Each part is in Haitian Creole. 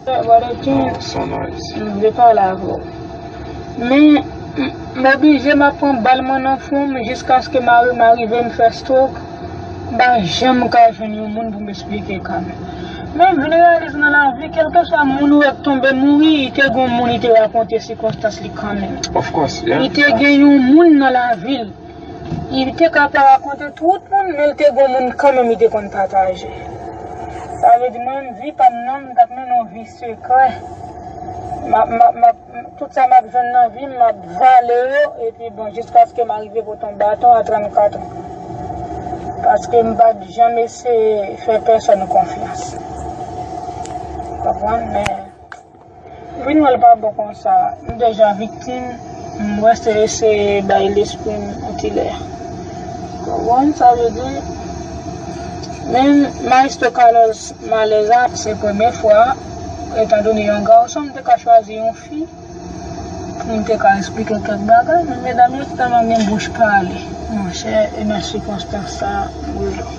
M vle pale avè w. Men, m oblije m ap pran bal mwen nan fwon m jiskaske mari m arive m fè strok. M pa janm ka jwenn yon moun pou m esplike ka m. Men, m vin reyalize nan lavi, kèlkeswa moun ou wè k tonbe mouri, li te gen yon moun li te rakonte sikonstans li kanmenm. Li te gen yon moun nan lavi l. Li te ka pa rakonte tout moun men li te gon moun kanmenm li te konn pataje. Sa vle di mwen menm vi pam nan m tap mennen yon vi sekrè. Tout sa map jwenn nan vim map vale yo epi bon jiskaske m arive pot yon baton a 34 ans. Paske m pat janm eseye fè pèsòn konfyans. Konprann men. Vin wèl pa bon konsa m deja viktim m resi eseye bay lesprim yon ti lè konprann sa vle di men maestro Carlos malèz a se premye fwa etan done yon garçon m te ka chwazi yon fi poum te ka esplike kèk bagay men medam yo tèlman gen bouch pale monchè e nan sikonstans sa m relo.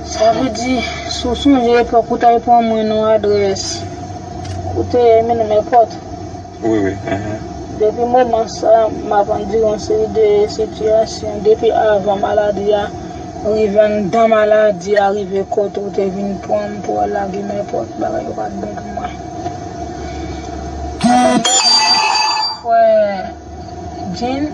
Sa vle di, si w sonje epòk ou t al pran mwen nan adrès ou te ye menm nan mèpòt. Wi, wi, ehe. Depi moman sa, m ap andire yon seri de sitiyasyon depi avan maladi a rive, anndan maladi a rive kote ou te vin pran m pou al lage mèpòt. Bagay yo pa t bon pou mwen. Sa fè m gen anpil fwè. Jin,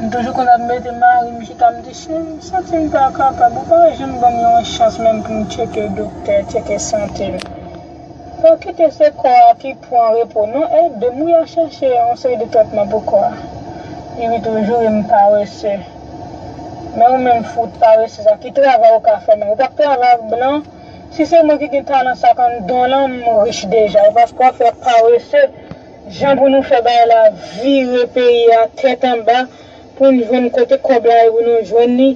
M toujou konn ap mete mari m chita, m di, cheri m santi m pa kapab, ou pa janm ban m yon chans menm pou m tcheke doktè, tcheke sante m. Pa kite se kò a ki pran repo non, ede m, ou ya chèche yon seri de tretman pou kò a. Li ri toujou, e m parese. Men ou menm fout parese sa, ki travay ou ka fè menm? Ou pa p travay ak blan? Si se mwen ki gen talan sa kon don lan, m rich deja, e paske w ap fè parese. Jan pou nou fè bay la vire peyi a tèt anba poun jwenn kote kòb la e pou nou jwenn li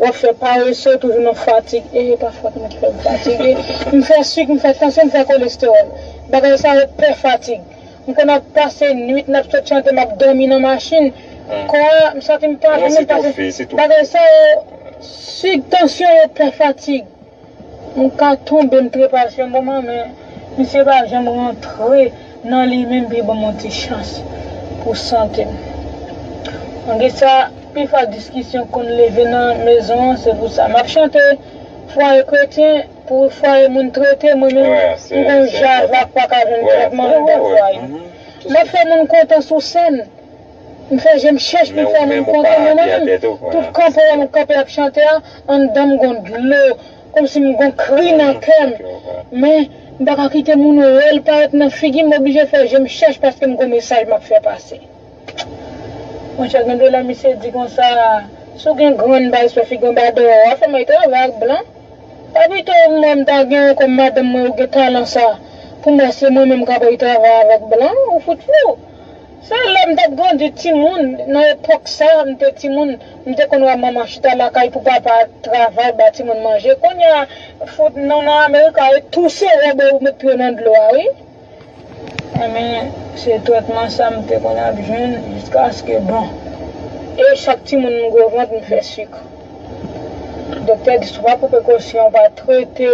wap fè parese ou toujou nan fatig ee pa fòt mwen ki fè m fatige m fè suk m fè tansyon m fè kolestewòl bagay sa yo pè fatig m konn ap pase nwit nap sot chante map dòmi nan machin kò a m santi m pa byen bagay sa yo suk tansyon yo pè fatig. M ka tonbe m trepas yon moman men misye pa janm rantre nan li menm pi banm yon ti chans pou sante m. Malgre sa pi fwa diskisyon konn leve nan mezon an se pou sa map chante fwaye kretyen pou fwaye moun trete mwen menm m konn jazz la paka jwenn tretman andan fwaye m. Map fè moun kontan sou sèn. M fè je m chèch pou m fè nan m kontan men manman m tout kan pou wè m kanpe ap chante a anndan m gon dlo kòmsi m gon kri nan kè m men m pa ka kite moun wè l parèt nan figi m m oblije fè je m chèch paske m gon mesaj m ap fè pase monchè gen de lè misye di konsa si w gen grann baz fè figi w anba dèyè w a fè may travay ak blan pa pito m wè m ta gen w kòm madanm m wè w gen talan sa pou m wè se mwen menm k ap ray travay avèk blan ou fout fou. Se lè m t ap grandi timoun, nan epòk sa m te timoun, m te konn wè manman chita lakay pou papa travay ba timoun manje. Kounya fout nou nan America e touse wè bò ou met pye w nan dlo a wi. Enben, se trètman sa m te konn ap jwenn jiskaske bon. E chak timoun m gwo vant m fè sik. Doktè di si w pa pran prekosyon, w pa trete.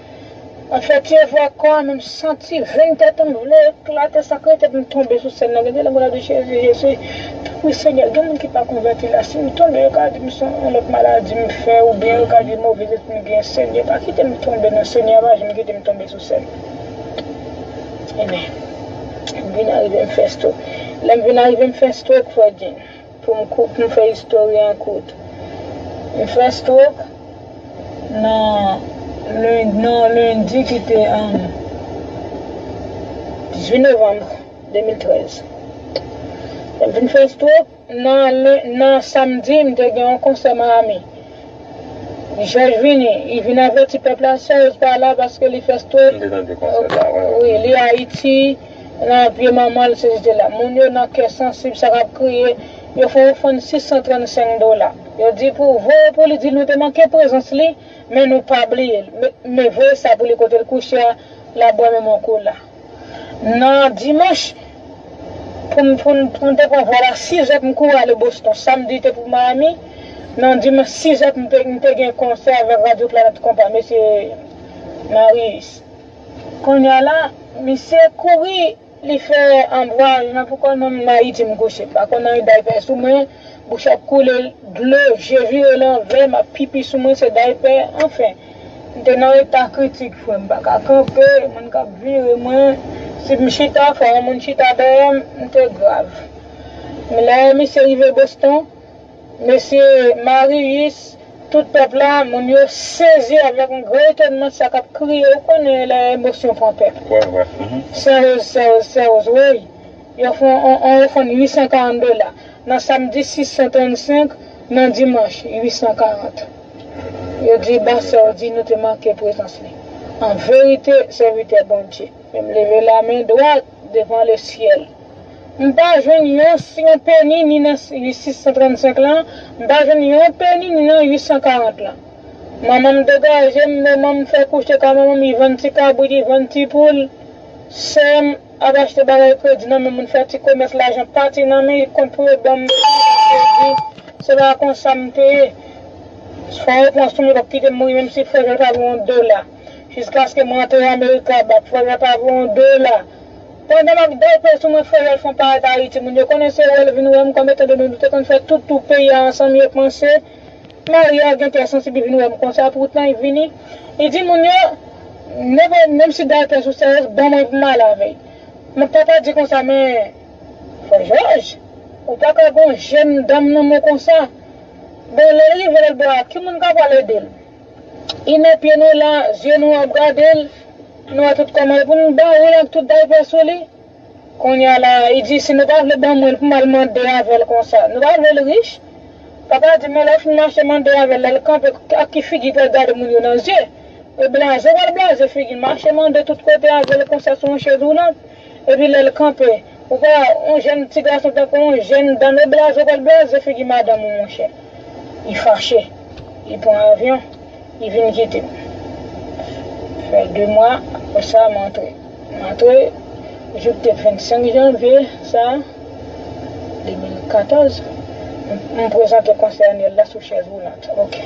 Mwen fè ti efò ak kò a men m santi venn tèt m vle eklate sak rete pou m tonbe sou sèn nan gen de lè m konn ap di Jezi Jezi wi Senyè gen moun ki pa konvèti la si m tonbe yo ka di m son yon lòt maladi m fè oubyen yo ka di move zespri m gen Senyè pa kite m tonbe non Senyè a pa janm kite m tonbe sou sèn Amen m vin arive m fè stroke lè m vin arive m fè stroke Frè Jim. Pou m kout, m fè istori an kout. M fè stroke nan nan lendi ki te 18 novanm 2013. Lè m fin fè stroke, nan nan samdi m te gen yon konsè Miami. Jòj vini, li vin avèti pèp la, Serge pa la paske li fè stroke. M te tande konsè sa, wi. Wi, li Ayiti. Nan pye manman l, Sezite la. Moun yo nan kè sansib sa k ap kriye yo fè ofrann 635 dola. Yo di pou voye pou li di l nou te manke prezans li men nou pa bliye l. Men voye sa pou li kote l kouche a l ap bwè menm ankou la. Nan dimanch pou m pou m te pran vòl a sizè pou m kouri ale Boston. Samdi te pou Miami. Nan dimanch sizè m te gen konsè avèk radyo Planèt Konpa, mesye Marius. Konnya la misye kouri li fè anbraj nan pou kòl mwen mayi di m gouche m pa konn anyen daypè sou mwen bouch ap koule dlo je vire lanvè map pipi sou mwen se daypè anfen m te nan eta kritik frè m paka kanpe moun kap vire mwen si m chita fò yon moun chita dèyè m m te grav men lè misye rive Boston. Mesi Marius, tout pep la, moun yo sezi avek yon gran etonman sa kap kriye ou konnen le emosyon pran pep. Sèoz sèoz sèoz woy yo fon on on yo fonn 840 dola nan samdi 635 nan dimanch 840 yo di ba sèodi nou te manke prezans li an verite sèvitè Bondye menm leve la men dwat devan le syèl. M pa jwenn yon yon peni ni nan 635 lan, m pa jwenn yon peni ni nan 840 lan. Manman m degaje m, manman m fè kouche ka manman m, li vann ti kabrit, li vann ti poul. Sè m ap achte bagay kredi nan men moun fè ti komès lajan pati nan men li kont pou yo ban m kredi. Se pa konsa m te ye. Fò yo pran sou m, yo pap kite m mouri menm si frè jwèl pa vo yon dola. Jiskaske m rantre Amerika, ba frè jwèl pa vo yon dola. Pandan map daypre sou mwen frè Rolfon paret Ayiti moun yo konnen se wel vin wèm kòm etan done nou te konn fè tout tour peyi a ansanm yo panse Maria a gen kè sansib li vin wèm konsa poutan li vini li di moun yo never menm si daypre sou sèyèz ban mwen pou m ale avèl map papa di konsa men frè Jòj ou paka gon jèn danm nan men konsa bon lèl rive lòt bò a ki moun ka pwal edel. Li met pye nou la, zye nou ap gade l, nou wè tout kòman e pou nou ba ou l ak tout daypè sou li? Kounye a la, li di, Si nou pa vle ban mwen l pou m al mande avè l konsa, nou pa vle l rich? Papa a di, Men lè w fin mache mande avè l, lè l kanpe, ak ki figi pou l gade moun yo nan zye? E blaze, ou pa l blaze figi l, mache mande tout kote avè l konsa sou yon chèz woulant? Epi lè l kanpe. Ou pa wè yon jèn ti gason tankou yon jèn danno blaze pral blaze figi madanm ou monchè. Li fache. Li pran avyon. Li vin kite m. Fè 2 mwa apre sa m antre. M antre jou k te 25 janvye sa a 2014. M prezante konsèy anyèl la sou chèz woulant. Ok.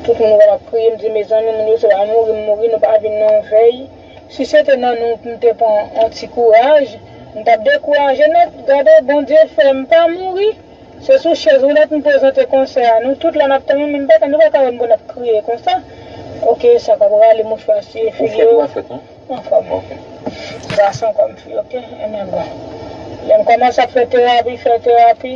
Tout moun wè m ap kriye m di mezanmi moun yo se pa mouri m mouri nou pa vin nan yon vèy. Si se te nan nou m te pran on ti kouraj m tap dekouraje nèt gade Bondye fèm pa mouri se sou chèz woulèt m prezante konsè a nou tout la nap tann men m paka nou paka wèm pou nap kriye konsa ok sa kap rale mouchwa siye figi yo anfòm gason kòm fi ok lèm kòmanse ap fè terapi fè terapi.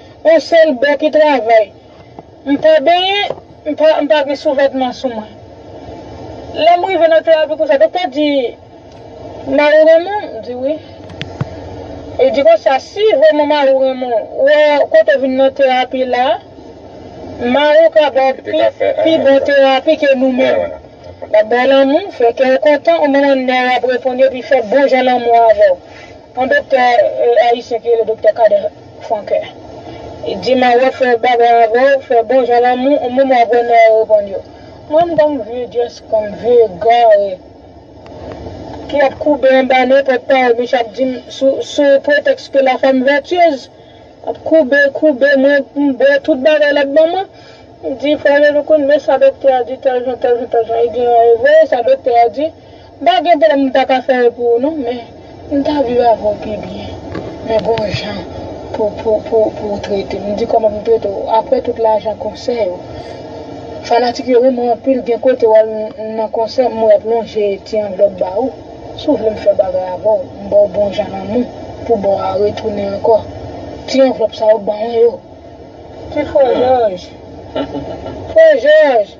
On sel bè ki travay. M pa benyen, m pa m pa gen souvètman sou mwen. Lè m rive nan terapi konsa, doktè di, Mari w renmen w? M di wi. Li di konsa, si vrèman mari w renmen w, ou wè kote w vin nan terapi la a, mari w ka ba w pi bon terapi ke nou menm. L ap ba w lanmou, fè kè w kontan, ou menm an nè w ap reponn yo epi fè bon jan lanmou avè w. On doktè ayisyen ki rele doktè Kader. Franke. Di ma wè fè bagay avèw fè bon jan lanmou ou menm wap wè nan yo reponn yo. Mwen m kòm vye just kòm vye egare ki ap koube anba nenpòt pawòl misye ap dim sou sou pretèks ke la femme vertueuse ap koube koube mwen m bwè tout bagay lap ban mwen m di frè Jean-Loukoun men sa doktè a di tèl jan tèl jan tèl jan e gen yon e vre sa doktè a di. M pa gen pwoblèm m ta ka fè yo pou ou non men m ta viv avè w pi byen men gon jan pou ou trete m m di kòman pou m trete w aprè tout lajan konsè yo fanatik yo renmen w anpil gen kote w al nan konsè m wè y ap lonje ti anvlòp ba ou si w vle m fè bagay avè w m ba w bon jan lanmou pou ba w retounen ankò ti anvlòp sa yo ban mwen yo ti frè jòj frè jòj.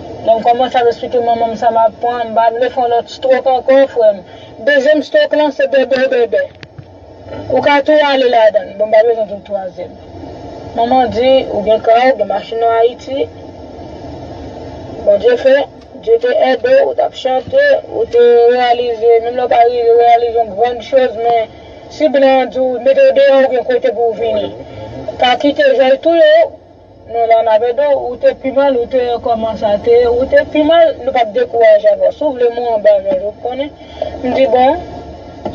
Lè m kòmanse ap esplike manman m sa m ap pran, m pa vle fè yon lòt strok ankò, frè m. Dezyèm strok lan se bèbèbèbè. Ou ka tou ale ladan l. Bon, m pa bezwen di w twazyèm. Manman di, ou gen ka, ou gen machin an Ayiti. Bondye fè, Dye te ède w, ou t ap chante, ou te reyalize, menm lè w pa rive reyalize yon grann choz, men si blan an di w mete w deyò ou gen kote pou w vini. Pa kite jay touye w. Nou la nap ede w, ou te pi mal ou te ye koman sa te ye ou te pi mal nou pap dekouraje avè w si w vle mwen anba jòj ou konnen m di bon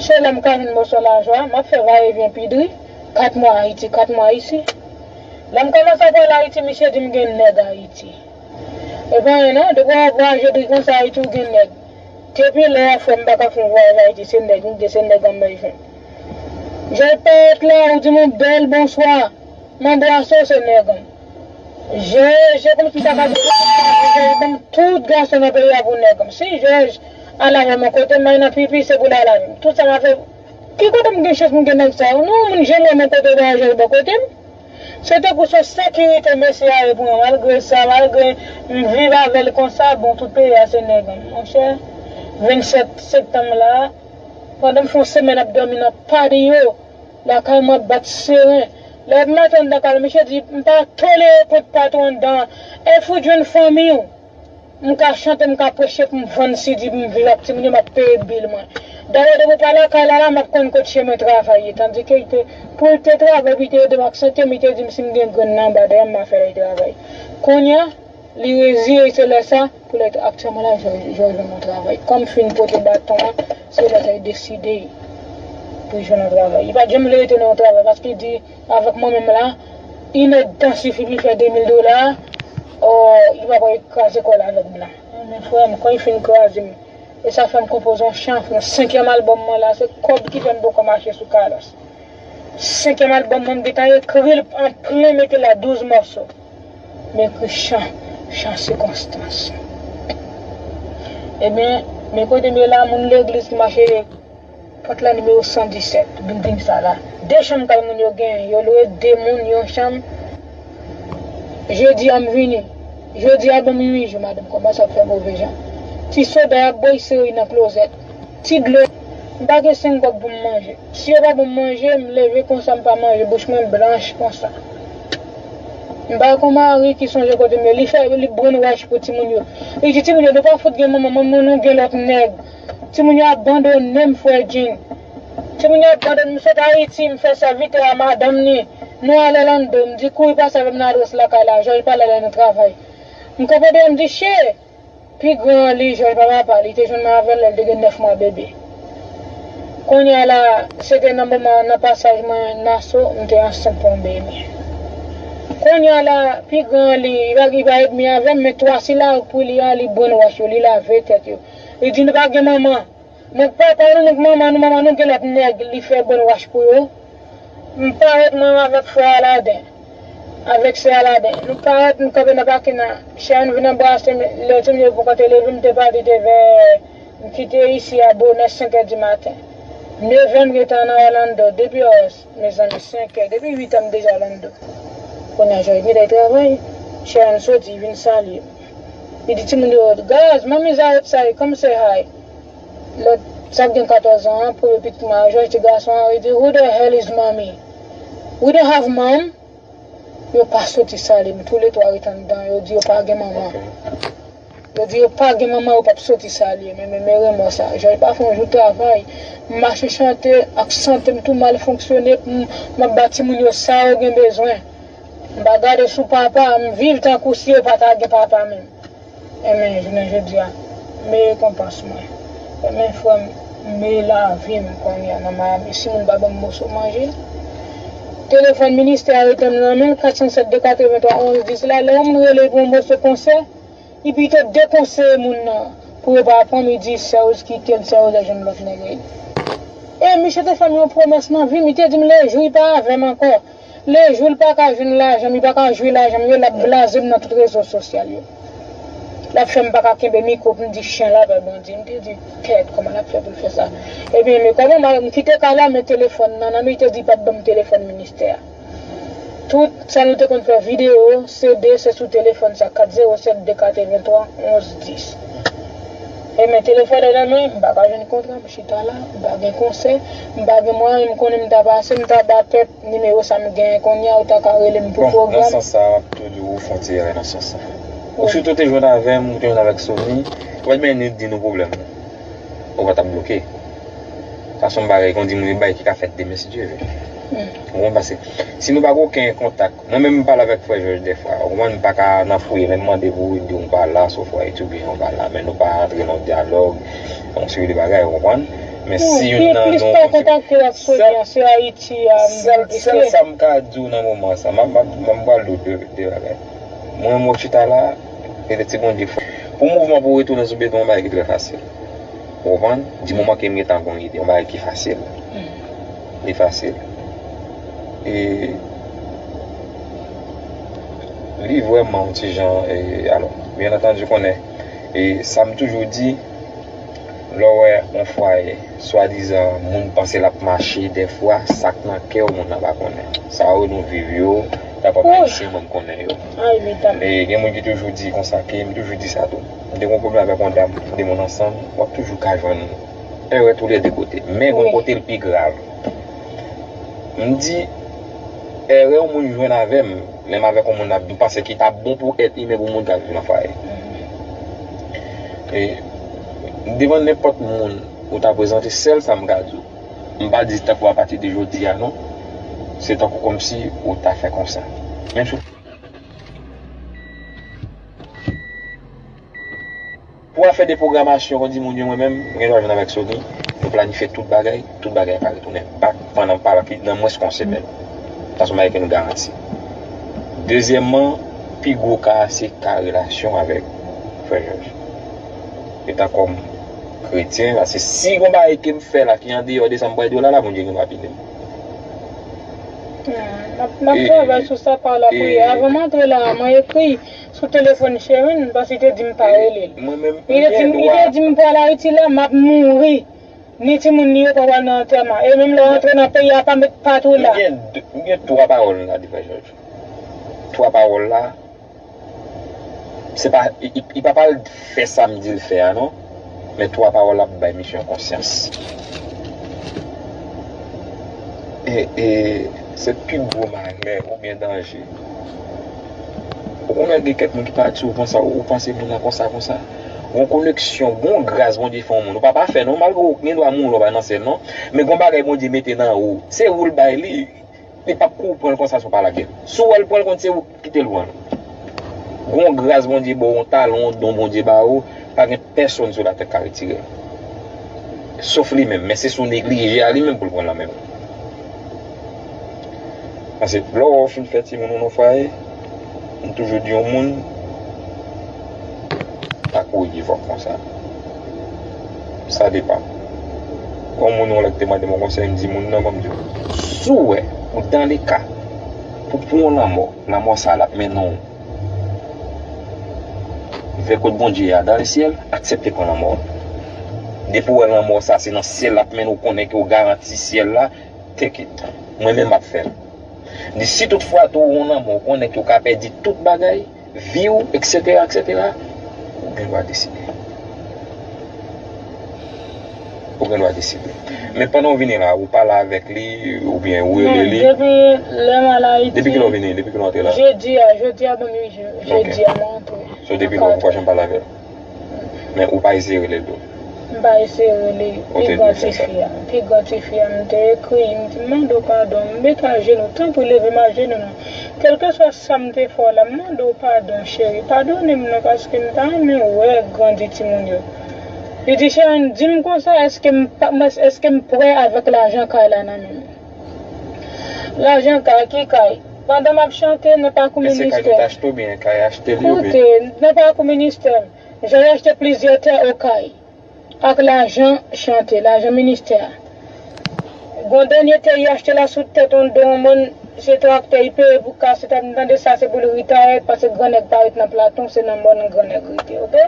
se lè m ka jwenn moso lajan an map fè va e vyen pi dri 4 mwa ayiti 4 mwa isi lè m komanse ap al ayiti misye di m gen nèg ayiti e pa anyen non depi w ap vwayaje dri konsa ayiti w gen nèg depi lè a frè m paka fon vwayaj ayiti se nèg m gen se nèg anmèy jwenn jòj payèt la ou di m yon bèl bonswa. M'en brasow se nèg m. Jèj yo konn kisa kap rive pou m pa di jèj banm tout gason nan peyi a pou nèg m si jèj al avè m kotem bay nan pipi se pou l al avè m tout sa map fè ki kote m gen chans pou m gen nèg sa yo non moun janm wè m kote bay yon jèj bò kote m se tankou se yon sekirite mesye a ye pou mwen malgre sa malgre m viv avè l konsa bon tout peyi a se nèg m monchè 27 septanm la pandan m fè yon semèn ap dòmi nan padi yo. Lakay mwen ap bat seren. Lè m met anndan kay la misye di m pa tolere kont pat ou anndan an. E fout jwenn fanmiy ou. M ka chante m ka preche pou m vann CD pou m viv ak timoun yo m ap peye bil mwen. Dayè depi w pa lakay Lala m ap konn kot chemen travay ye tandike li te pou l te travay epi li te ede m ak sante m li te di m si m gen grenn anba dèyè m m a fè li travay. Kounya. Li reziye se lè sa pou lè t aktyèman la jò jò jwenn yon travay kòm fin pote baton an se lè sa li deside pou jwenn yon travay li pat janm vle rete nan yon travay paske li di avèk mwen menm la yn èdtan sifi pou li fè 2000 dola or li pa pral kraze kòl avèk m nan men frèm kòl fin kraze m e sa fèm konpoze yon chan pou yon senkyèm albòm mwen la se kòb ki fèm poko mache sou Carlos senkyèm albòm mwen m gentan ekril an plen mete la 12 mòso. Men Christian Jan sikonstans. Ebyen men kote m ye la moun legliz ki mache pot la nimewo 117 bilding sa la. 2 chanm kay moun yo genyen yo lwe 2 moun yon chanm Jodi a m vini Jodi a banm 8 jou madanm kòmanse ap fè move jan Ti soda y ap bo y sere nan klozèt Ti dlo M pa gen 5 gòb pou m manje Si yo pa ban m manje m leve konsa m pa manje bouch mwen blanch konsa. M pa kon mari ki sonje kote m ye. Li fè li brainwash pou timoun yo. Li di timoun yo nou pa fout gen manman, manman nou gen lòt nèg. Timoun yo ap bandone m frè Jin. Timoun yo ap bandone m. M sot Ayiti, m fè sèvitè a madanm ni. Nou ale Lando. M di kouri pase avè m nan adrès lakay la. Jòj pale lè nou travay. M kanpe deyò m di, Che! Pi gran an li jwenn papa pa li te jwenn nan avèl lèl te gen 9 mwa bebe kounya la se te nan moman nan pasaj mwen naso m te ansent pou yon bebe kounya la pi gran an li pa li pa edmi avèm men 3 sila pou li a li brennwach yo li lave tèt yo li di nou pa gen manman. Nèg k papa nou, nèg manman nou, manman nou gen lòt nèg li fè bòn wach pou yo. M parèt mwen avèk frè Aladen, avèk sè Aladen. Nou parèt nou kanpe nan pakin an. Chè a nou vin anbrase m lè timoun yo poko te leve m te pati te vè m kite isi a bonè senkè dimaten. Nevè m gentan nan Orlando, 2 piores. Mezanmi sen kè depi 8 an m deja lan do kounya jay gnlè travay Sharon soti vin salye m li di timoun yo gaz manmi Zayèt sa ye come say hi lòt sa k gen 14 an an premye pitit mwen a jay ti gason an li di who the hell is mommy we don't have mom. Yo pa soti salim tou le 3 ret andan yo di yo pa gen manman yo di yo pa gen manman yo pap soti salim men men men remò sa jòj pa fè yon jou travay m mache chante ak santem tou mal fonksyone m map ba timoun yo sa yo gen bezwen m pa gade sou papa m viv tankou si yo pata gen papa menm. Amen jounen jodia m me rekonpans mwen amen frè m me lavim konnya nan miami si moun pa banm moso manje telefòn ministè a rete m nan men 407 283 11 10 la lè yon moun rele pou yon moso konsè li pito dekonseye moun nan pou yo pa pranm li di sè Rose kite l sè Rose ap jwenn lòt nèg e misye te fèm yon pwomès nan vim li te dim le jou li pa avèm ankò Le jou l pa ka jwenn lajan m, li pa ka jwi lajan m yo, l ap blaze m nan tout rezo sosyal yo. L ap fè m pa ka kenbe mikwo pou m di chen la pè Bondye. M te di, Ted, kòman l ap fè pou l fè sa? Ebyen, le kòman m ale, m kite kay la, m met telefòn nan nan m, li te di li pa p ban m telefòn ministè a. Tout sa nou te konn fè, videyo, CD, se sou telefòn sa, 407 283 11 10. E men telefòn an nan men, m pa ka jwenn kontra, m chita la, m pa gen konsè, m pa gen mwayen, m konnen m ta pase, m ta ba pèp nimewo sa m genyen kounye a, ou ta ka rele m pou pwogram. Bon, nan sans sa a, m ap toujou ou fon ti erè nan sans sa a. Ou sitou te jwenn avè m, ou te jwenn avèk Sony, ou pa t benyen ni di nou pwoblèm nou. Ou pa t ap bloke. Sa s on bagay, kondi m, yon bagay ki ka fèt demen si Dye ve. Ou konprann? Pase, si nou pa gen oken kontak. Mwen menm m pale avèk frè jòj dèfwa ou konprann m paka nan fouye menm mande pou Ruth diw m pa la sof wè etid oubyen ou pa la men nou pa antre nan yon dyalòg yon seri de bagay ou konprann men si youn nan nou sèl sa m ka diw nan moman sa m ap pral diw de bagay mwen menm wè w chita la petèt si Bondye fè pou mouvman pou retounen sou beton yon bagay ki trè fasil ou konprann di moman ke m gentan gon ide yon bagay ki fasil. Li fasil. E li vrèman yon ti jan e alò. Byen antandu konnen e sa m toujou di lè w wè yon fwaye swadizan moun panse l ap mache dèfwa sa k nan kè w moun nan pa konnen. Sa yo nou viv yo ta pa bay se mwen m konnen yo. E gen moun ki toujou di konsa ke m toujou di sa tou. M te gen yon pwoblèm avèk yon dam, de moun ansanm w ap toujou ka jwenn Erè tou lè 2 kote. Men gon kote l pi grav. M di, erè yon moun jwenn avè m, lè m avèk yon moun nap, m panse ki ta bon pou èt imen pou moun ka viv nan fwaye. E, devan nenpòt moun ou ta prezante, sèl sa m ka di w, m pa di tankou apati de jodi a non, se tankou kòmsi ou ta fè konsa. Menm si w. Pou afè de pwogramasyon kondi moun yo mwen menm, mwen gen dwa jwenn avèk Sony, nou planifye tout bagay, tout bagay pa retounen bak pandan pa pi nan mwens ke yon semèn. Sa se yon bagay ke nou garanti. Dezyèmman, pi gwo ka a se ka relasyon avèk Frè Jòj. Etan kòm kretyen, paske si gon bagay ke m fè la ki andeyò de sa m pral di w la la, Bondye gen dwa pini m. Map travay sou sa pa lapriyè. Avan m antre la a, mwen ekri Sou telefòn Sherine m panse li te dim pa rele l. Li te dim li te dim m pral Ayiti la map mouri ni timoun li yo pa pral nan antèman e menm lè w antre nan peyi a pa met pat ou la. M gen 3 pawòl la devan jòj. 3 pawòl la se pa li pa pral fè sa m di l fè a non. Men twa pawòl ap bay misye yon konsyans. E se pi gwo malè oubyen danje. Ou konn wè gen kèk moun ki pa di ou konsa, ou panse moun nan konsa konsa. Gon koneksyon, gon gras Bondye fè yon moun. Ou pa pafè non, malgre ou gen dwa mouri ou pa nan syèl non. Men gon bagay Bondye mete nan ou. Se ou l bay li. Li pap kou ou pran l konsa san w pa lage l. Si w wè l pran l konn se ou. Kite l pran l. Gen yon gras Bondye ba w, yon talan, yon don Bondye ba ou, pa gen pèsonn sou latè k ka retire l. Sof li menm, men se si w neglije a li menm pou l pran l nan men w. Pase lè w wè w fin fè timoun ou nan fwaye, m toujou di yon moun, pa kouri divòs konsa. Sa depan. Gon moun yon lè ki te mande m yon konsèy, m di moun nan, m di w, si w wè ou dan leka, Pou pou yon lanmò, lanmò sa a l ap mennen w vè kot Bondye a dan lesyèl, aksepte pran lanmò a. Depi w wè lanmò sa a se nan syèl l ap mennen w, konnen ke w garanti syèl la, take it. Mwen menm m ap fè l. Di si tout fwa tou ou wè yon lanmò ou konnen ke w ka pèdi tout bagay, vi w etc etc ou gen dwa deside ou gen dwa deside men pandan w vini la ou pale avèk li ou byen ou rele li depi lè m al ayiti depi kilè w vini depi kilè w antre la jodi a jodi a banm ui jodi a mwen antre so depi lè ou poko janm pale avèl. Men ou pa eseye rele l tou? M pa eseye rele pi gran tifi a. Pi gran tifi a, m te ekri li, m di, M mande w padon, m mete ajenou, tanpri leve m ajenou nan. Kèlkeswa sa m te fè w la, m mande w padon cheri, padonnen m non paske m ta renmen wè grandi timoun yo. Li di, Sharon, di m konsa èske m prè avèk lajan kay la nan men m? Lajan kay, ki kay? Pandan map chante nan pakou ministè. Mesye kay nou t achte ou byen kay achte li ou Koute, nan pakou ministè m, Jay achte plizyè tè Okay ak lajan chante, lajan ministè a. Gon dènye tè y achte la sou tèt on do on mòn, se traktè y peye pou kaset a, m tande sa se pou l ritaye pase gran nèg pa ret nan Platon, se nan mòn gran nèg rete ok.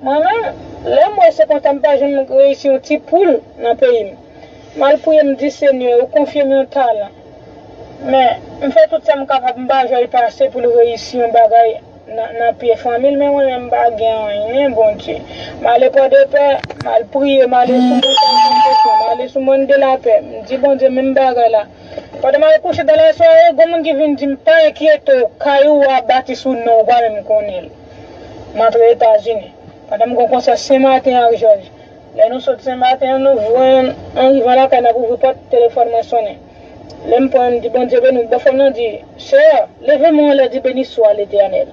Mwen menm, lè m wè se konsa m pa janm reyisi on ti poul nan peyi m. Mal priye m di Senyè ou konfye m yon talan men m fè tout sa m kapab m pa jwel pase pou l reyisi yon bagay nan pye fanmi l men mwen menm m pa gen anyen Bondye m ale pòdepè m al priye m ale sou montay konfesyon m ale sou mòn de lapè m di Bondye menm bagay la pandan m al kouche dan lasware gon moun ki vin di m pa enkyete w kay ou a bati sou non w pa menm konnen l m antre etazini pandan m gon konsè senmaten ak jòj Lè nou sot sen maten an nou jwenn an rivan lakay nap ouvri pòt telefòn mwen sonnen lèm pran mdi Bondye beni w bòfrèm nan di sè leve men w anlè di beni swa letènèl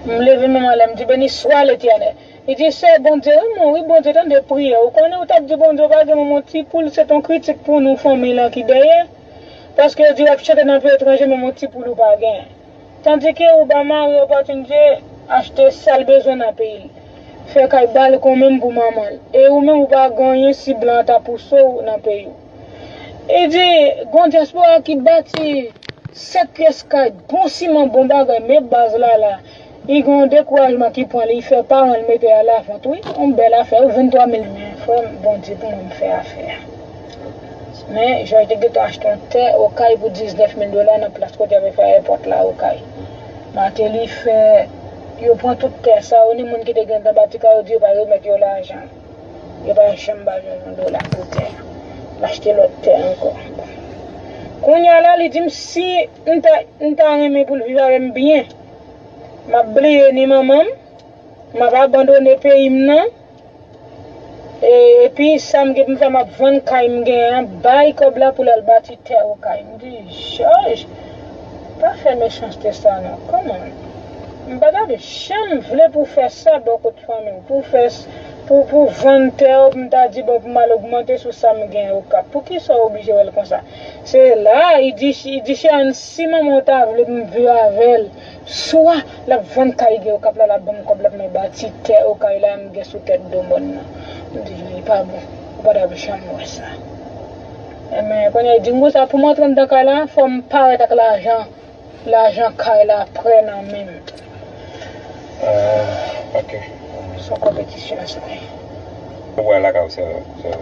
m leve menm anlè mdi beni swa letènèl li di sè Bondye renmen w wi Bondye tande priyè w konnen ou tap di Bondye w pa gen manman w ti poul se ton kritik pou nou fanmiy lan ki dèyè paske yo di wap chante nan peyi etranje menm yon ti poul ou pa gen. Tandi ke ou ba mari opòtinite achte sal bezwen nan peyi l, fè kay bal kon menm pou manman l, e ou menm ou pa gen anyen si blan an ta pouse w nan peyi w. E di, gon dyaspora ki bati 7 pyès kay, bon siman, bon bagay, men baz la la, li gen yon dekourajman ki pran li, fè paran l mete a lavant wi, yon bèl afè wi, 23 mil men frè m, Bondye pou mwen m fè afè a. Men, Jòj te gentan achte yon tè Okay pou 19 mil dola nan plas kote y ap fè èpòt la, Okay. Mateli fè yo pran tout tè sa yo ni moun ki te gentan bati kay yo di yo pa remèt yo lajan. Yo pa janm ba l yon dola pou tè a. L achte lòt tè ankò. Bon, kounye a la, li di m si m ta m ta renmen pou l viv avè m byen, m ap bliye ni manman m, m ap abandone peyi m nan. Epi sam gen poum fè map vann kay m gen an bay kob la poul al bati tè okay m di joj pa fè mechanste sa nan kòman m pa tap janm vle pou fè sa bò kot fanmiw pou fè pou vann tèw m ta di bon pou mal ogmante sou sam gen okap poukisa ou oblije wèl konsa se la li di chè an si manmanw ta vle m viv avèl. Swa lap vann kay gen okap la lap banm kòb lap mwen bati tè okay la m gen sou tèt do mòn nan m di li pa bon ou pa tap janm wè sa enben kounya li dim konsa poum antre anndan kay la fòm parèt ak lajan lajan kay la prè nan menm ahh ok son konpetisyon sa ye. Ou pral lakay ou sèl sèl.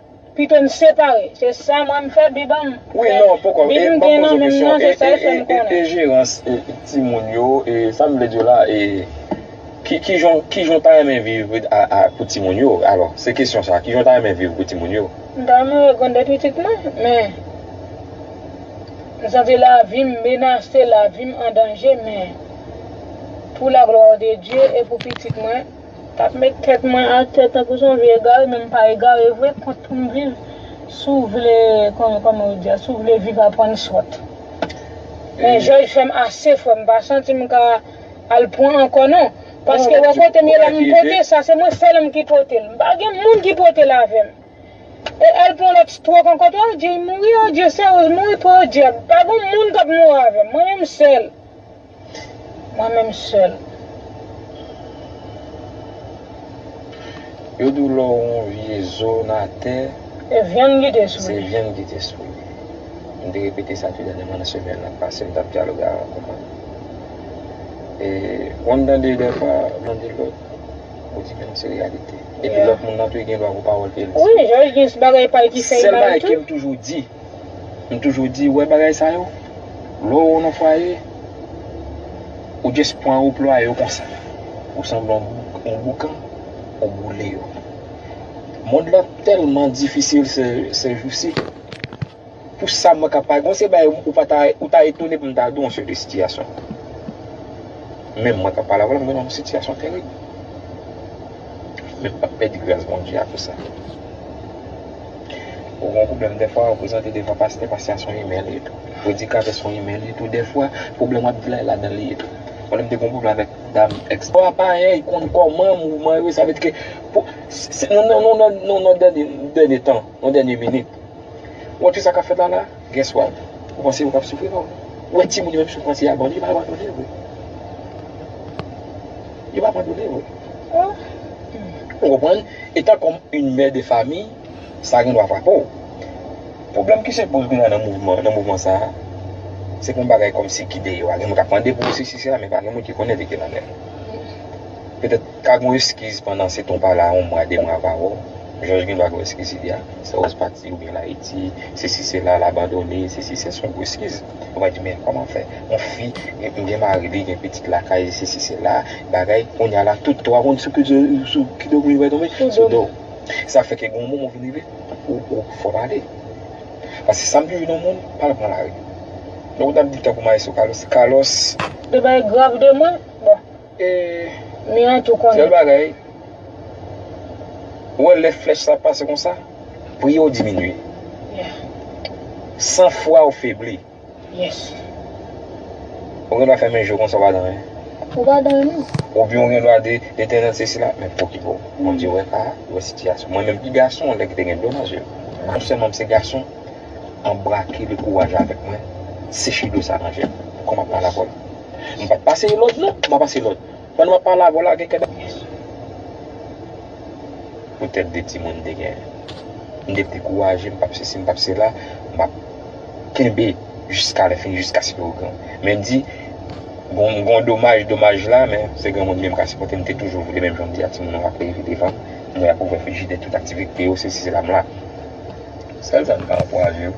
Pito n separe. Se sa mwen m fè bib an m. Wi non poko e banm poze yon kesyon e e e e jerans e timoun yo e sa m vle di w la e ki kijan w kijan w ta renmen viv a a pou timoun yo alò se kesyon sa kijan w ta renmen viv pou timoun yo. M ta renmen wè grandè pitit mwen men m santi lavi m menase lavi m andanje men pou laglwa de Dye e pou pitit mwen. Tap met tèt mwen atè tankou son vye egare men mpa egare vre kont poum viv sou vle kòman yo di a sou vle viv a prann sòt men jòj fèm ase frèm mpa santim ka al pran ankò non paske wè kotem ye la mpote sa se mwen sèlmn ki potel mpa gen moun ki potel avèm e al pran lòt stròk ankò tou adjee mouri adjee sè rose mouri podiab pa gon moun kap mouri avèm mwen menm sèl. Mwen menm sèl. Yo di w lè w yon vye zo nan atè. Se vyann ki te sou li. Se vyann ki te sou li. M te repete sa tou dènyèman nan semèn nan pase m t ap dyaloge avèk yon moun. E wè m tande dèfwa moun di lòt ou di menm se reyalite. Epi lòt moun nan tou gen dwa pou pawòl ke l di. Wi, Jòj gen bagay pa l ki fè l mal tou. Sèl bagay ke m toujou di. M toujou di, ou wè bagay sa yo, lè w nan fwaye, ou just pran yo ou plwaye yo konsa. Ou sanble yon boukan, ou boule yo. Mond lan tèlman difisil sè jousi, pou sa mwen ka pa, gen yon seri bagay ou pa ta, ou ta etone pou m ta di w yon seri de sitiyasyon. Menm mwen k ap pale avè w la, m gen yon sitiyasyon terib. Men m pa p pèdi gras Bondye a pou sa. Ou gen yon pwoblèm dèfwa ou prezante devan pastè, pastè a se yon imèl li tou. Predikatè se yon imèl li tou dèfwa, pwoblèm wap di la e ladan li ye tou. Mwen menm m te gen yon pwoblèm avèk dam ex. Ou a parèy konn kòman mouvman yo ye sa vle di ke pou se nou nan yon dènye tan, yon dènye minit. Ou wè tout sa kap fèt la la? Gen swag. Ou panse yo pap soufri non. Ou wè timoun yo menm soufrans se abandone yo pa abandone vre. Yo pa abandone vre. Ou konprann? Etan kòm yn mè de fami sa gen dwa frape w. Pwoblèm ki se poze kounya nan mouvman nan mouvman sa a se pou bagay kòmsi ki deyò a. Gen moun k ap mande pou sesi sela men pa gen moun ki konnen vekè nan men l. Petèt. Ka gon eskiz pandan se ton pa la on mwa de mwa pa wè w jòj gen dwa gen eskiz li a se ròz pati ou byen l ayiti se si se la l abandone se si se son gwo eskiz ou va di men kòman fè on fi m gen mari li gen pitit lakay li se si se la bagay kounye a la tout to a konn sou ki sou ki do moun yo pral tonbe sou do w sa fè ke gen on moman ou vin rive ou ou fò pale paske sa m toujou di on moun pa al pran lari donk ou t ap di tankou mayestwo Carlos Carlos. Gen bagay grav de mwen bon. Miray tou konnen. Sèl bagay, ou wè lè flèch sa ap pase konsa, priye w diminye. San fwa w febli. Ou gendwa fèmen je w konsa w pa danyen. Ou pa danyen menm. Oubyen ou gendwa di, Letènèl sesi la, men pou ki bo? Bondye wè ka a, li wè sitiyasyon. Mwen menm ki gason, gen lè ki te gen dlo nan je m. Non sèlman m se gason, anbrake lekouraj avèk mwen, seche dlo sa nan je m. Kòm m ap pale avè w. M pap pase yon lòd non, m pa pase lòd. Pandan m ap pale avè w la gen kèk bagay ki Pou tèt de timoun te gen M te dekouraje m pap sesi m pap sela M ap kenbe jiska lè fini jiskaske yo gran Men m di Gon gon domaj domaj la men se granmoun menm ka sipòte M te toujou vle menm jan m di a timoun yo ap leve devan m M wè y ap ouvè frijidè tout aktivite yo sesi sela M la Sèl sa m ka ankouraje yo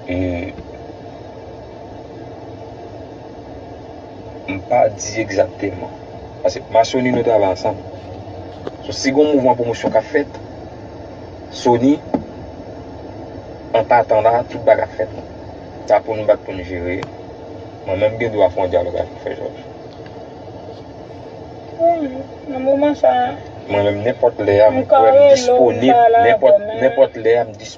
e M pa di egzakteman. Pase m a Sony nou travay ansanm. So si gon mouvman pwomosyon k ap fèt, Sony an patan la tout bagay ap fèt. Sa pou nou bat pou nou jere. Mwen menm m gen dwa fè yon dyalòg avèk Frè Jòj. Pou m, nan moman sa a. Mwen menm nenpòt lè a m kwè m disponib. Nenpòt lè a m disponib.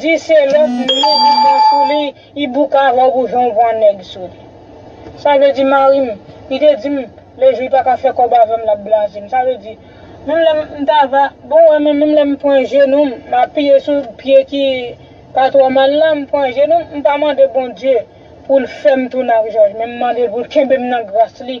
Di se lot nèg ou pran sou li i bouka rob ou jan ou pran nèg sou li. Sa vle di marim li te dim le jou li pa ka fè kob avèm lap blazem sa vle di menm lèm m ta va bon wè men menm lèm pran jenou m m apiye sou pye ki pa tro mal lan m pran jenou m m pa mande Bondye poul fèm tounen ak Jòj men m mandel poul kenbem nan gras li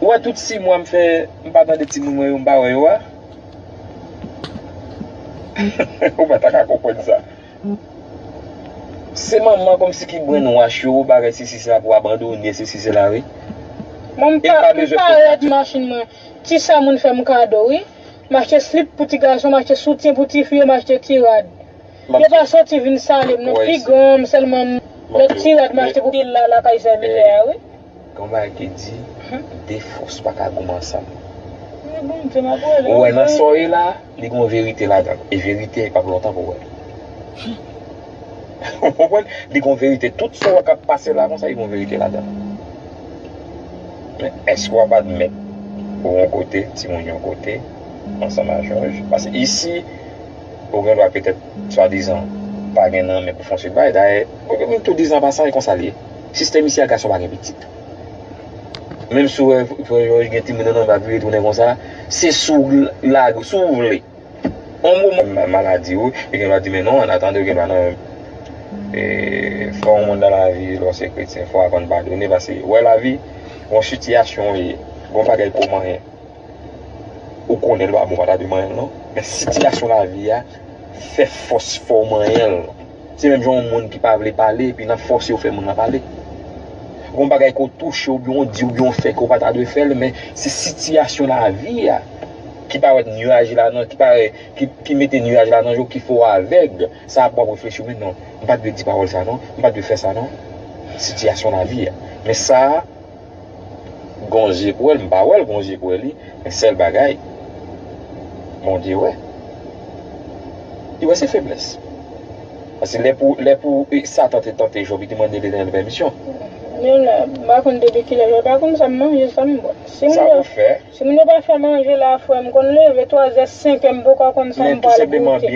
Ou wè tout 6 mwa m fè m pa tande timoun mwen yo m pa wè yo a? Ou pa ta ka konprann sa. Se manman kòmsi ki brenn wach yo ou parèt sesi sela pou abandone sesi sela wi. Mwen m pa m pa rèd machin mwen ti sa moun fè m kado wi. M achte slip pou ti gason m achte soutyen pou ti fi yo m achte ti rad. Yo pa soti vin sale m non pi gran an m sèlman m lòt ti rad m achte pou pil la lakay sè mizè a wi. Gon bagay ki di, de fòs pa ka goumen ansanm. Ou wè nan sa w ye la, li gon verite ladan l. E verite pap lontan pou w wè l. Ou konprann? Li gon verite. Tout sa w wè k ap pase la konsa, li gon verite ladan l. Men, èske w ap admèt ou yon kote, timoun yon kote, ansanm ak jòj? Paske isi, ou gen dwa petèt swadizan pa gen nan men pou fon seri de bagay. Dayè, moun tou dizan an pasan, e konsa l ye. Sistèm isi a gason pa gen pitit menm si ou gen timoun nan menm li tounen konsa se si w lage si w vle yon moman gen maladi wi e gen lòt di men non an atandew gen pa nan menm e fè yon moun nan lavi lè w se kretyen fò w aprann padone paske wè lavi yon sitiyasyon w ye yon bagay ke w manyen ou konnen l pa bon ou pa ta dwe manyen l non men sitiyasyon lavi a fè fòs fè w manyen l. Se menm jan yon moun ki pa vle pale epi nan fòse yo fè moun lan pale. Gen yon bagay ke w touche oubyen w di oubyen w fè ke w pa ta dwe fè l men se sitiyasyon lavi a ki parèt nuaj la nan, ki pare, ki mete nuaj la nan je w ki fè w avèg. Sa ap wap reflechi w men non, m pa t dwe di pawòl sa non, m pa t dwe fè sa non. Sitiyasyon lavi a. Men sa. Gon je pou wèl m pa wèl gon je pou wè li men sèl bagay Bondye wè li wè se feblès paske lè pou lè pou satan te tante Job li te mande Letènèl pèmisyon. Menm la m pa konn depi kilè lè pa konn sa m manje sa m bwè si m bwè. Sa ou fè. Si moun yo pa fè manje la frè m konn leve 3 zè 5 è m poko konn sa m pral goute. Wi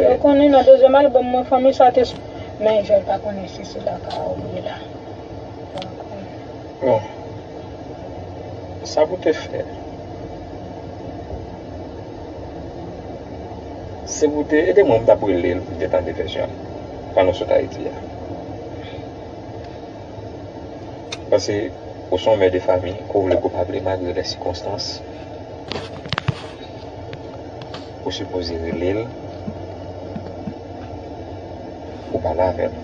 yo konnen nan dezyèm album mwen fanmi sa te sou men jel pa konnen si se la ka ou ye la bon sa pou te fè se pou te ede mwen m tap relel pou te tande vèsyon pano sot ayiti a. Pase ou son mè de fami, ke w vle ke w pa vle malgre lè sikonstans, ou sipoze rele l pou w pale avè l,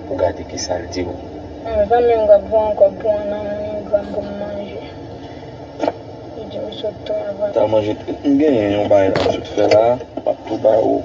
pou w gade ki sa l di w. Yon zanmi m k ap vann kòb pou yon nanonigram pou m manje. Li di m sot tou anvan. Ta manje, m genyen yon bagay la m sot fè la, m ap tou ba ou.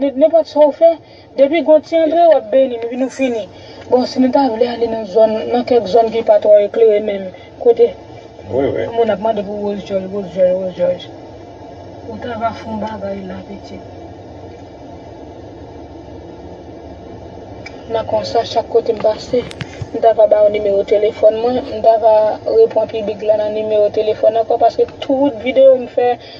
Nenpòt sa ou fè, depi gon ti antre wap beni nou epi nou fini. Bon si nou ta vle ale nan zòn, nan kèk zòn ki pa twò eklere menm, kote moun ap mande pou woz djòj, woz djòj, woz djòj. Ou ta va fon bagay la pitit. Nan konsa chak kote m pase, m ta va ba ou nimewo telefòn mwen, m ta va repon piblik la nan nimewo telefòn ankò paske tout videyo m fè,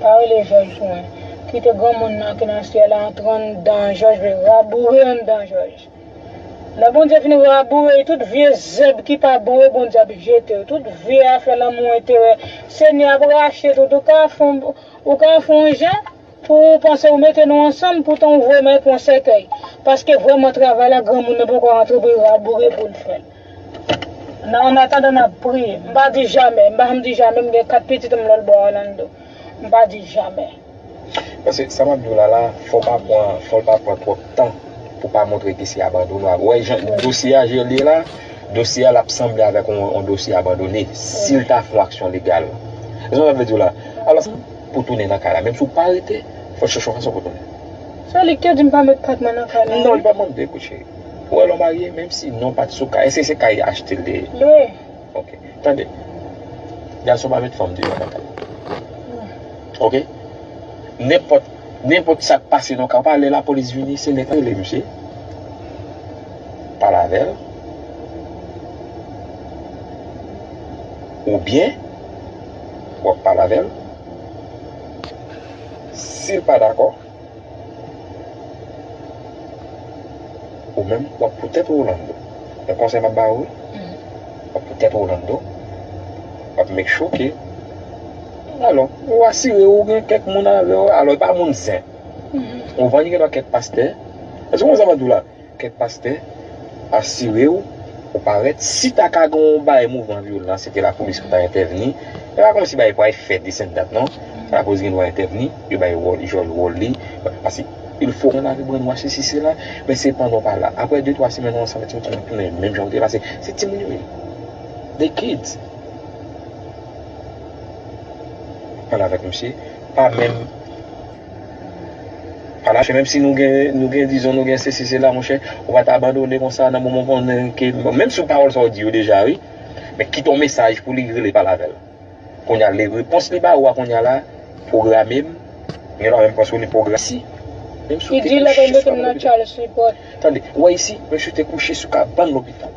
Pa rele jòj mwen. Kite granmoun nan ki nan syèl la antre anndan jòj li raboure anndan jòj. Lè Bondye fin raboure li tout vye zèb ki pa bon yo Bondye ap jete yo tout vye afè lanmou enterè Senyè ap rache tout ou ka fon ou ka fon jan pou ou panse ou mete nou ansanm poutan ou voye mwen pou yon sèkèy paske vrèman travay la granmoun nan poko rantre pou li raboure poul fèl. Nan an atandan n ap priye. M pa di jamè. M pa janm di jamè. M gen 4 pitit m lòlbò Orlando. M pa di jamè. Paske sa m ap di w la la, fò w pa pran, fò l pa pran twòp tan pou w pa montre ke se abandone. W ap wè jan dosye a jan l ye la, dosye a l ap sanble avèk yon dosye abandone si l ta fè yon aksyon legal. Ou konprann sa m vle di w la? Alòs, pou w tounen nan kay la, menm si w pa rete, fò w chèche yon fason pou w tounen. Se li ki te di m pa met pat mwen nan kay la wi. Non, li pa mande pou w cheri. Pou alon marye menm si non pat sou kay eske se kay li achte li te ye wi ok tande gason pa met fanm deyò nan kay ok nenpòt nenpòt sak pase nan kay ou pa wè lè lapolis vini se nèg la rele misye pale avèl oubyen wap pale avèl sil pa dakò. Ou menm wap pou tèt ou Orlando. Yon konsèy map ba ou wi. Wap pou tèt ou Orlando. Wap make sure ke alò ou asire ou gen kèk moun avèw. Alò e pa moun zen. Ou vann gen dwa kèk pastè. Èske ou konprann sa map diw la? Kèk pastè asire w ou parèt, si ta ka gen yon bagay mouvman vyolan se te lapolis pou ta entèvni, e pa kòmsi bagay pou al fè desen dat non, lapolis gen dwa entèvni, yo bay wòl jòl wòl li, paske il fò moun arive brann wòch sesi sela, men se pandan w pa la, aprè de twa semèn ou ansanm avèk timoun timoun tounen menm jan yo te ye paske se timoun yo ye, they kids. Pale avèk misye, pa menm. Palache menm si nou gen nou gen dizon nou gen sesi sela monchè ou pa ta abandone konsa nan moman ou konnen ke menm si pawòl sa ou di yo deja wi men kite yon mesaj pou li rele pale avèl kounya li repons li ba ou a kounya la pwograme m gen lwa menm paske li pwogra si menm si ou te kouche sou kabann lopital tande ou a isi menm si ou te kouche sou kabann lopital.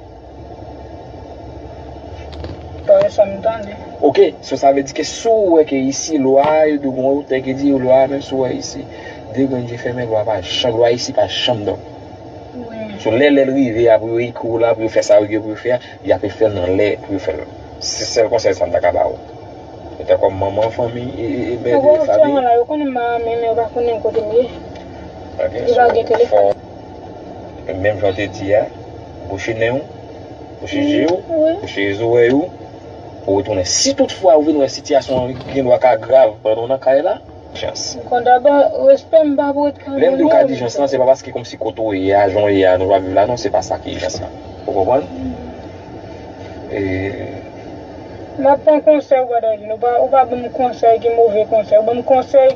Pa wè sa m tande. Ok, so sa vle di ke si w wè ke isi lwa a yo dwe gen yon otè ki di yo lwa a menm si w wè isi de grenn je fèmen lwa pa janm lwa isi pa janm dòmi. So lè lè l rive a pou yo ekri w la pou yo fè sa yo gen pou yo fè a y ape fè l nan lè pou yo fè l lan. Se sèl konsèy sa m ta ka ba ou. E tan kòm manman fanmi e e mè de fanmi. Yo wè otè mwen la yo konnen m a ame men yo pa konnen kote m ye. Ok, so fò w menm jan w te di a. Bouche nen ou, bouche je ou, bouche zorèy ou pou retounen. Si tout fwa ou vin wè sitiyasyon an gen dwa ka grav pandan ou nan kay la, dijans. M konn daba, respè m pa pou ret ka donnen w. Lè m di w ka dijans lan, se pa paske kòmsi kote ou ye a, jan w ye a, jan w ap viv la non, se pa sa ki ijans lan. Ou konprann? E. M ap pran konsèy ou pa ta di non, ou pa ban m konsèy ki move konsèy, ou ban m konsèy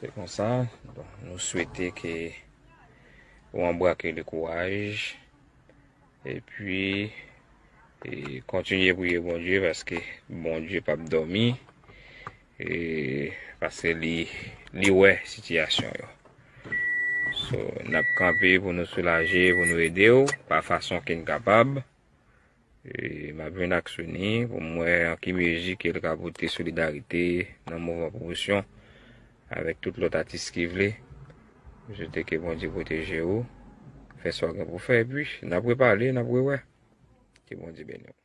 Se konsa, nou swete ke ou anbrake le kouraj, e pi kontinye priye Bondye, paske Bondye pa p dòmi, e paske li wè sitiyasyon yo. So, n ap kanpe pou nou soulaje, pou nou ede ou, pa fason ke n kapab. M ap jwenn ak Sony pou m wè an ki mezi ke l ka pote solidarite nan mouvman pwomosyon avèk tout lòt atis ki vle. M swete ke Bondye pwoteje ou, fè sa w gen pou w fè epi n ap repale, n ap rewè. Ke Bondye beni w.